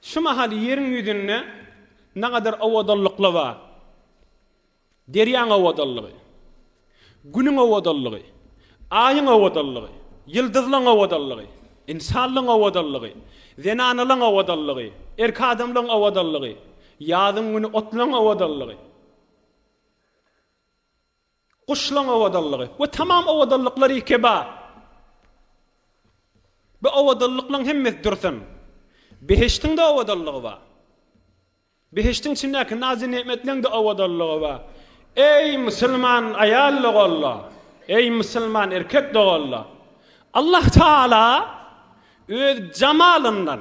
Şu mahal ýeriň ýüzünde nagadar owadanlykla bar. Derýaň owadanlygy, Günüň owadanlygy, Aýyň owadanlygy, ýyldyzlaň owadanlygy, ynsanlaň owadanlygy, zenanalaň owadanlygy, erk adamlaň owadanlygy, ýazyň güni otlaň owadanlygy. Guşlaň owadanlygy we tamam owadanlyklar iki bar. Bu owadanlyklaň hemmesi dursun. Behiştiň-de owadanlygy bar. Behiştiň içindäki nazy-negmetleň-de owadanlygy bar. Eý, musulman aýal doganlar! Eý, musulman erkek doganlar! Allah Tagala Öz jamalyndan,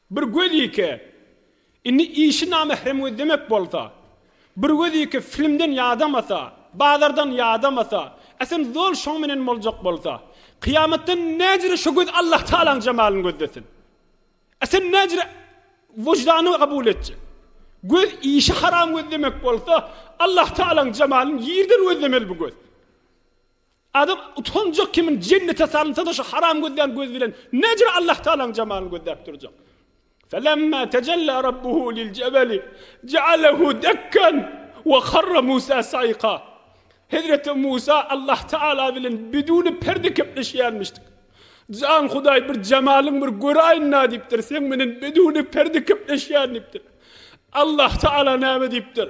Bir gözýike, indi işi namehrem gözlemek bolsa, bir gözýike filmden ýadamasa, bazardan ýadamasa, äsen zol şoň menen boljak bolsa, kyýamatdan näjire şo göz Allah Tagalaň jemalyny gözlesin? Äsen näjire wyždany kabul etjek? Göz işi haram gözlemek bolsa, Allah Tagalaň jemalyny ýerden gözlemeli bu göz. Adam utanjak kimin jennete salynsa-da şu haram gözlän göz bilen nejir Allah Tagalaň jemalyny gözläp durjak. Felemma tejella Rabbuhu lil jebeli jealehu dekkan we harra Musa saika. Hezreti Musa Allah Tagala bilen biduni perde kepleşýärmişdik. Jan Hudaý bir jemalyň bir göräýin-na diýipdir, seň menen biduni perde kepleşýän diýipdir. Allah Tagala näme diýipdir?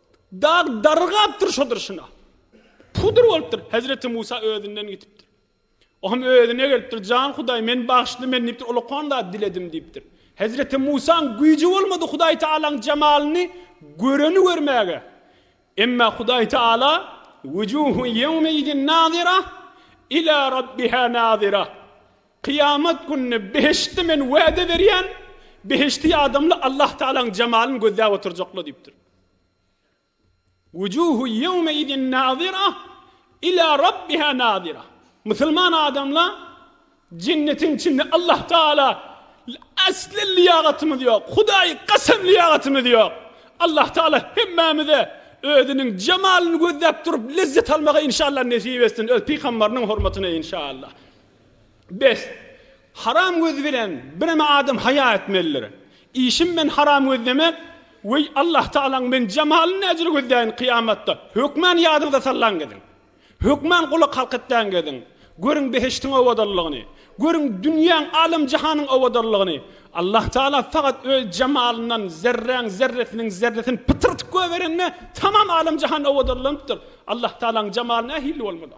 Dag dargapdyr şo durşuna. Pudur bolupdyr. Hezreti Musa özünden gitipdir. O hem özüne gelipdir. Jan Hudaý, men bagyşly, men diýipdir, ulakan zat diledim diýipdir. Hezreti Musaň güýji bolmady Hudaý Tagalaň jemalyny göreni görmäge. Emma Hudaý Tagala, Wujuhun ýewmeidin nazira ila Rabbiha nazira. Kyýamat gününi behişdi men wäde berýän, behişdi adamlar Allah Tagalaň jemalyny gözläp oturjaklar diýipdir. Wujuhun ýewmeidin nazira ila rabbiha nazira. Musulman adamlar Jennetiň içinde Allah Taala asly lyýagatymyz ýok. Hudaýy kasam lyýagatymyz ýok. Allah Taala hemmämize özüniň jemalyny gözläp durup lezzet almagy inşallah nesip etsin öz pygambarynyň hormatyna inşallah. Bes, haram göz bilen bireme adam haýa etmelidir. Işim men haram gözlemek, weý, Allahtagalaň men jemalyny näjele gözläýin kyýamatda, hökman ýadyňyza sallaň geziň. Hökman gulak halk etläň geziň. Görüň behiştiň owadanlygyny. Görüň dünýäň, alem-jahanyň owadanlygyny. Allahtagala fakat öz jemalyndan zerräň zerresiniň zerresini pytyrtyp göberende tamam alem-jahan owadanlanypdyr. Allahtagalaň jemaly nähilli bolmaly?